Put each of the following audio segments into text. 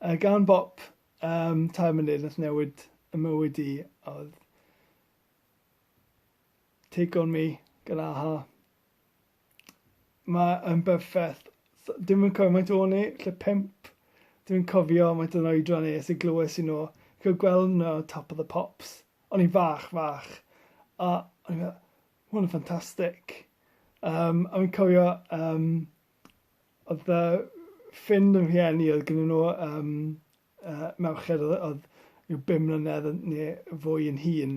A gan bop um, tair munud nath newid y mywyd i oedd Take On Me gan aha. Mae yn berffaith. Dim yn cofio mae'n o'n i, lle pimp. Dwi'n cofio mae'n o'n oedran i, sy'n glywes i nhw. Cael gweld nhw Top of the Pops. O'n i'n fach, fach. A o'n i'n meddwl, hwn yn ffantastig. Um, a fi'n cofio um, Oedd fy ffrind yn rhieni oedd gynnyn nhw yym yy merched oedd oedd ryw bum mlynedd yn ne' fwy yn hŷn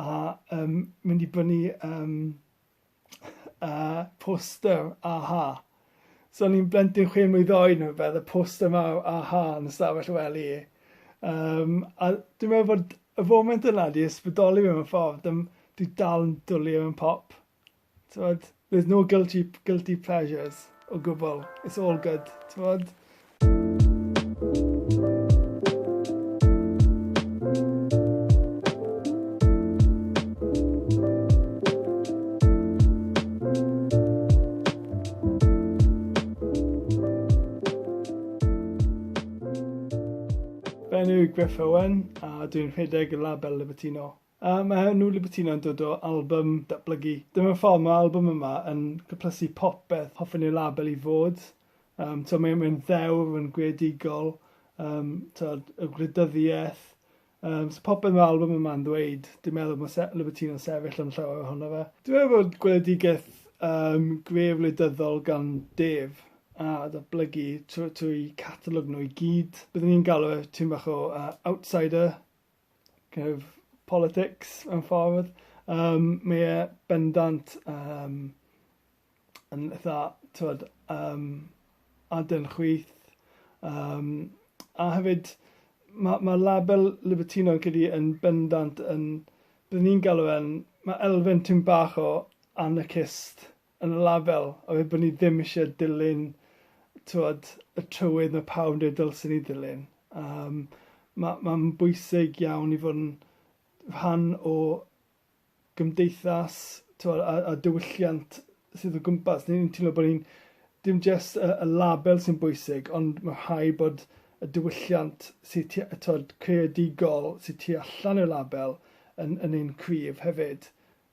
a yym mynd i brynnu yym yy poster a-ha. So o'n i'n blentyn chwe mlwydd oed ne' rwbeth a poster mawr a-ha yn ystafell y wely yym a dwi meddwl bod y foment yna 'di ysbrydoli fi mewn ffordd yym dwi dal yn dwli ar 'yn pop. T'mod? There's no guilty p- guilty pleasures o gwbwl. It's all good. T'mod? Benyw Griff Owen a dwi'n rhedeg y label Libertino. A mae New Libertino yn dod o albym datblygu. Dyma ffordd mae albym yma yn cyplysu popeth hoffen i'r label i fod. Um, so mae'n mae ddewr, mae'n greadigol, um, so, y gwleidyddiaeth. Um, so popeth mae'r albym yma'n ddweud, dwi'n meddwl mae se Libertino sefyll yn llawer ohono fe. Dwi'n meddwl bod gweledigaeth um, gref wleidyddol gan Dave a ddatblygu trwy, trwy catalog nhw i gyd. Byddwn ni'n galw e tîm bach o uh, outsider kind of politics mewn ffordd. Um, mae e bendant um, yn eitha, twyd, um, adyn chwyth. Um, a hefyd, mae ma label Libertino yn cydi yn bendant yn, byddwn ni'n galw e'n, mae elfen tyn bach o anarchist yn y label a fi bod ni ddim isie dilyn t'wod y trywydd ma' pawb yn dweud dylsen ni ddilyn. Yym ma' ma'n bwysig iawn i fod yn rhan o gymdeithas t'wod a a diwylliant sydd o gwmpas ni. Fi'n teimlo bo' ni'n dim jyst y y label sy'n bwysig ond ma' rhai' bod y diwylliant sy tu- yy t'wod creadigol sy tu allan i'r label yn yn un cryf hefyd.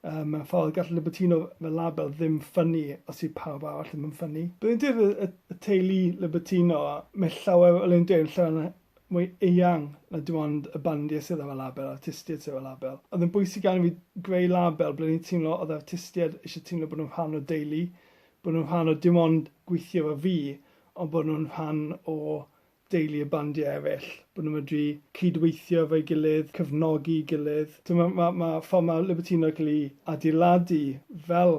Yy, mewn ffordd, gall Libertino fel label ddim ffynnu os yw pawb arall ddim yn ffynnu. Dwi'n deall y, y, y teulu Libertino, mae llawer o Elin Dei'n llawer na, mwy eang na dim ond y bandiau sydd efo label, artistiaid sydd efo label. Oedd yn bwysig arno fi greu label ble ni'n teimlo oedd artistiaid eisiau teimlo bod nhw'n rhan o deulu, bod nhw'n rhan o dim ond gweithio efo fi, ond bod nhw'n rhan o deulu a bandiau eraill, bod nhw'n medru cyd-weithio efo'i gilydd, cefnogi'i gilydd. Timod, mae, mae, mae ffordd mae Libertino yn cael ei adeiladu fel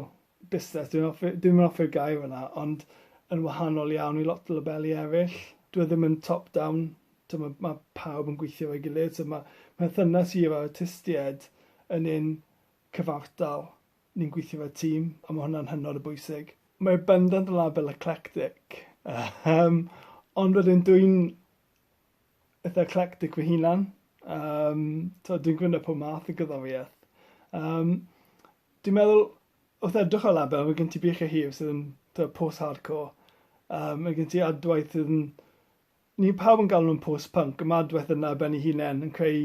busnes, dwi'n hoffi, dwi'm yn hoffi'r gair yna, ond yn wahanol iawn i lot o labeli eraill. Dwi e ddim yn top-down, timod, mae pawb yn gweithio efo'i gilydd, so mae perthynas i efo'r artistiaid yn un cyfartal. Ni'n gweithio fel tîm, a ma' hwnna'n hynod o bwysig. Mae bendant yn label eclectic, yym, ond wedyn dwi'n eitha eclectic fy hunan, yym, t'od dwi'n gwyno pob math o gerddoriaeth. Yym, dwi'n meddwl wrth edrych ar label ma' gen ti Beca Hughes sydd yn t'o' post-hardcore, yym ma' gen ti Adwaith sydd yn ni pawb yn galw nhw'n post-punk, a ma' Adwaith yna ar ben ei hunen yn creu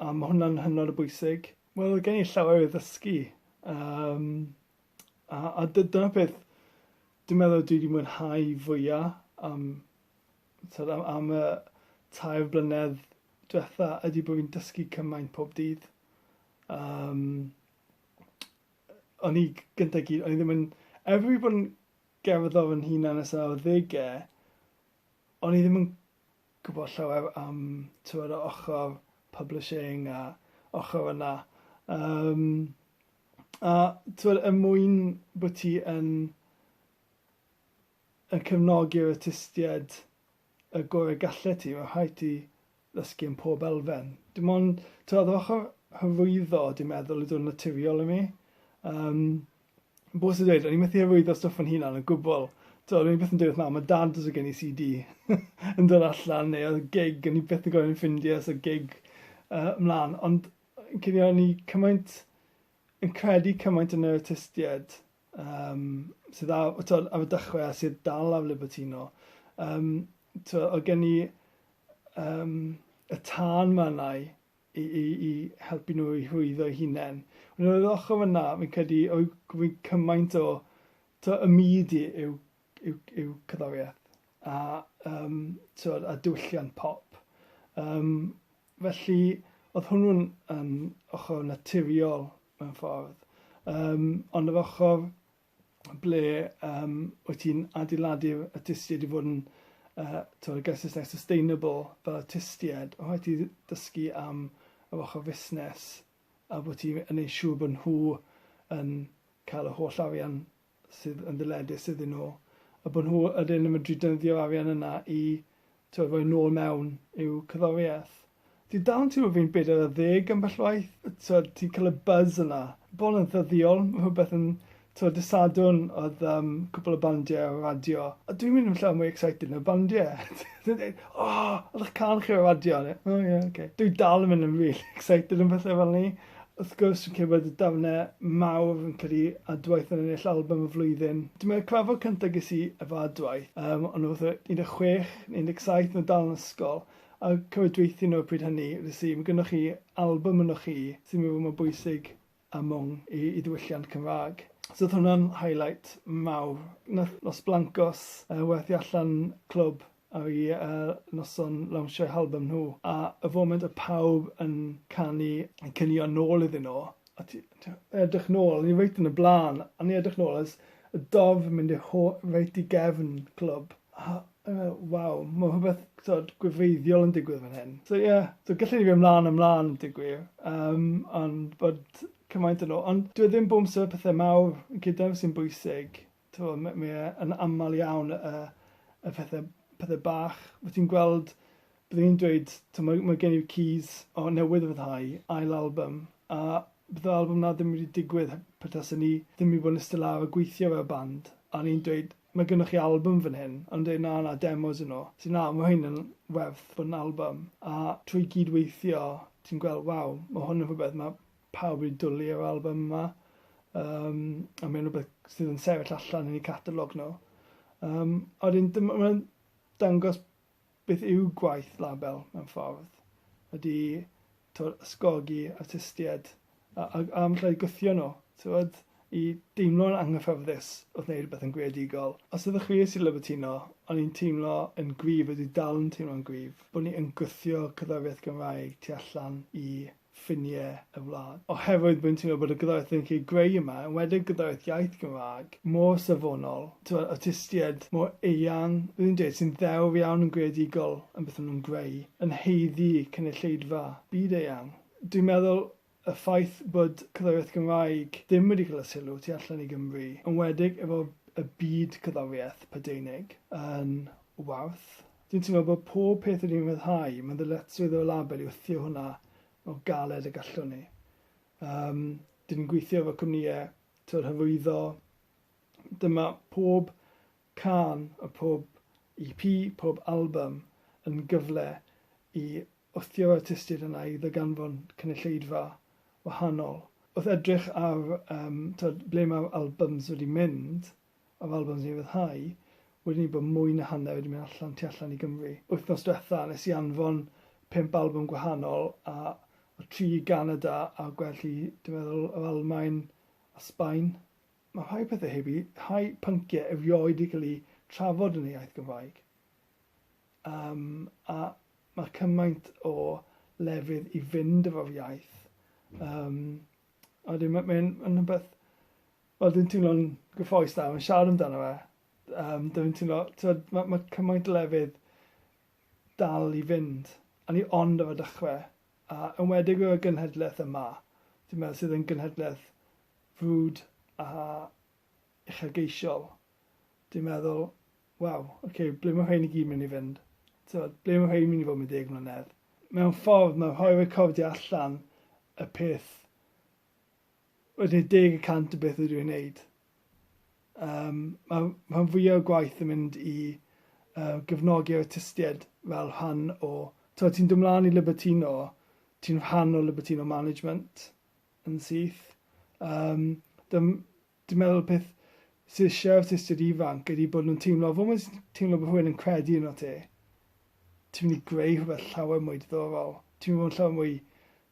A ma' hwnna'n hynod o bwysig. Wel odd gen i llawer i ddysgu yym a a dy- dyna peth dwi'n meddwl dwi 'di mwynhau fwya am t'od am am y tair blynedd dwetha ydi bo' fi'n dysgu cymaint pob dydd. Yym o'n i g- gynta i gyd o'n i ddim yn er fi 'di bod yn gerddor fy hunan ers yr arddege o'n i ddim yn gwybod llawer am tibod yr ochr publishing a ochr yna yym a tibod er mwyn bod ti yn yn cefnogi'r artistiaid y gorau gallet ti mae'n rhaid ti ddysgu yn pob elfen. Dim ond tibod yr ochr hyrwyddo dwi'n meddwl ydy'r naturiol i mi. Yym Bo sy'n dweud, o'n i methu hyrwyddo stwff fy hunan o gwbl. T'od o'n i byth yn deud wrth mam a dad os o' gen i See Dee yn dod allan neu odd gig o'n i byth yn gorod ffindie os odd gig yy mlan ond yy credu o'n i cymaint yn credu cymaint yn yr artistied yym sydd a- o t'od ar y dechre a sydd dal ar Livertino yym t'o' o' gen i yym y tân ma' arnai i, i, i helpu nhw i hwyddo'u hunain. Ond ar yr ochr fyna, fi'n credu, o'i gofyn cymaint o to, y myd i yw, yw, yw cyddoriaeth a, um, to, a diwylliant pop. Um, felly, oedd hwnnw'n um, ochr naturiol mewn ffordd. Um, ond yr ochr ble um, wyt ti'n adeiladu y tystied i fod yn uh, tywed, y Gethesau sustainable fel y tystied, o rhaid ti dysgu am yr ochr fusnes a bod ti'n yn ei siŵr bod nhw yn cael y holl arian sydd yn ddyledus iddyn nhw a bod nhw ydyn yn medru dynyddio'r arian yna i tywed, roi nôl mewn i'w cyddoriaeth. Ti dal yn teimlo fi'n bedair ar ddeg ambell waith, t'wod ti'n ca'l y buzz yna. Bron yn ddyddiol, ma' rhwbeth yn t'wod dy' Sadwrn odd yym cwpwl o bandie ar y radio a dwi'n mynd yn llawer mwy excited na'r bandie. Dwi'n deud o! Odd 'ych cân chi ar y radio a o ie oce. Dwi dal yn mynd yn rili excited am bethe fel 'ny. Wrth gwrs fi'n credu bod y darne mawr fi'n credu Adwaith yn ennill albym y flwyddyn. Dwi me'wl y cyfarfod cynta ges i efo Adwaith yym o'n i fatha un de' chwech ne' un deg saith o' nw dal yn ysgol. A cofio dweutho nhw pryd hynny, felly mae gynnoch chi albym ynoch chi sy'n meddwl mae'n bwysig a mwng i i ddiwylliant Cymraeg. So oedd hwnna'n highlight mawr. Wnaeth Los Blancos yy werthu allan clwb ar y yy noson lawnsio'u halbym nhw, a y foment oedd pawb yn canu yn cinio nôl iddyn nhw, a ti ti edrych nôl, o'n i reit yn y blaen, a o'n i'n edrych nôl a jyst y dorf yn mynd i'r ho- reit i gefn clwb, a Uh, waw, mae rhywbeth tod, gwefreiddiol yn digwydd fan hyn. So ie, yeah, so gallai ni fi ymlaen ymlaen yn digwydd, um, ond bod cymaint yn ôl. Ond dwi e ddim bod amser pethau mawr yn cydaf sy'n bwysig. Tro, mae e yn aml iawn y, y pethau, pethau bach. Wyt ti'n gweld Byddwn i'n dweud, timod, mae gen i'r Keys o newydd ryddhau ail album, a bydde'r album 'na ddim wedi digwydd pe tasen ni ddim wedi bod yn iste lawr a gweithio fel band, a o'n i'n dweud, mae gynnoch chi album fan hyn, a nhw'n dweud, na, na, demos y'n nhw. Es i, na, mae hyn yn werth bod yn album, a trwy gyd-weithio ti'n gweld, waw, mae hwn yn rhywbeth mae pawb wedi dwlu ar yr album yma, um, a mae'n rhywbeth sydd yn sefyll allan yn eu catalog nhw. Um, a wedyn, mae'n dangos Beth yw gwaith label, mewn ffordd, ydy, t'wod, ysgogi artistied a a a falle gwthio nhw, t'wod, i deimlo'n anghyfforddus wrth wneud rhywbeth yn greadigol. Os ydych chi sy'n Libertino, o'n i'n teimlo yn gryf a dwi dal yn teimlo'n gryf bod ni yn gwthio cerddoriaeth Gymraeg tu allan i ffiniau y wlad. Oherwydd rwy'n teimlo bod y gyrraedd rydych chi'n greu yma, yn enwedig y gyrraedd iaith Gymraeg, mor safonol, tibod, awtistiaid mor eang, rwy'n yn dweud, sy'n ddewr iawn yn greadigol yn beth maen nhw'n greu, yn haeddu cynulleidfa byd-eang. Dwi'n meddwl y ffaith bod cerddoriaeth Gymraeg ddim wedi cael y sylw tu allan i Gymru, yn enwedig efo y byd cerddoriaeth Prydeinig, yn werth Dwi'n teimlo bod pob peth rydyn ni'n rhyddhau, mae'n ddyletswydd o label i wthio hwnna mor galed ag allwn ni. Um, dyn ni'n gweithio efo cwmnïau tyw'r hyfwyddo. Dyma pob can a pob EP, pob album yn gyfle i wthio'r artistiaid yna i ddaganfon cynulleidfa wahanol. Wrth edrych ar um, tywed, ble mae'r albums wedi mynd, Mae Valbo yn ddiryddhau wedyn i bod mwy na hanner wedi mynd allan tu allan i Gymru. Wythnos diwetha nes i anfon pump albwm gwahanol a oedd tri i Ganada a gwell i dwi'n meddwl yr Almaen a Sbaen. Mae rhai pethau heb i rhai pynciau erioed i cael eu trafod yn y iaith Gymraeg. Yym a mae cymaint o lefydd i fynd efo'r iaith. Yym a wedyn mae'n rhywbeth Wel dwi'n teimlo'n gyffrous nawr yn siarad amdano fe. Yym dwi'n teimlo t'od ma' ma' cymaint o lefydd dal i fynd a ni ond ar y dechre a enwedig y gynhedleth yma dwi'n meddwl sydd yn gynhedleth frwd a uchelgeisiol. Dwi'n meddwl waw ok ble ma' rhein i gyd myn' i fynd? T'od ble ma' rhein myn' i fod mewn deg mlynedd? Mewn ffordd ma' rhoi recordiau allan y peth Wedyn i'r deg y cant o beth ydw i'n wneud. Yym, mae rhan fwyaf o'r gwaith yn mynd i uh, gefnogi'r artistiaid fel rhan o... Ti'n ti dod mlaen i Libertino, ti'n rhan o Libertino Management yn syth. Um, dwi'n meddwl peth sydd eisiau artistiaid ifanc ydy bod nhw'n teimlo, fod nhw'n teimlo bod rhywun yn credu yn o ti, ti'n mynd i greu rhywbeth llawer mwy diddorol. Ti'n mynd i fod yn llawer mwy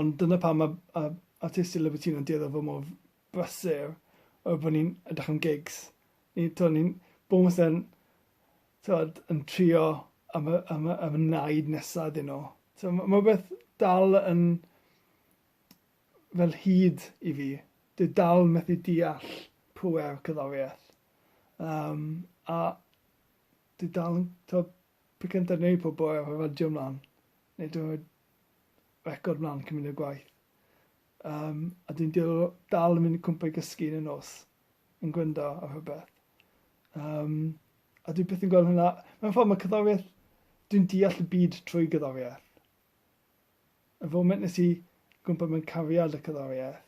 Ond dyna pam mae yy artistiaid Livertina'n dueddol o fod mor brysur oherwydd bod ni'n edrych am gigs. Ni t'o' ni'n bob amser'n t'wod yn trio am y am y am y naid nesa iddyn nw. So ma' ma' rwbeth dal yn fel hud i fi. Dwi dal methu deall pŵer cerddorieth. Yym a dwi dal yn t'o' pe cynta neud pob bore efo radio mlan neu t'mod record mlan cyn mynd i'r gwaith. Um, a dwi'n dal yn mynd i cwmpa i gysgu yn y nos, yn gwyndo ar rhywbeth. Um, a dwi beth yn gweld hwnna, mewn ffordd mae cyddoriaeth, dwi'n deall y byd trwy gyddoriaeth. Y foment nes i gwmpa mewn cariad y cyddoriaeth,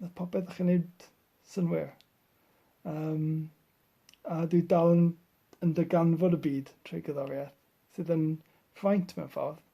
na popeth o'ch yn neud synwyr. Um, a dwi dal yn, yn dyganfod y byd trwy gyddoriaeth, sydd yn ffraint mewn ffordd.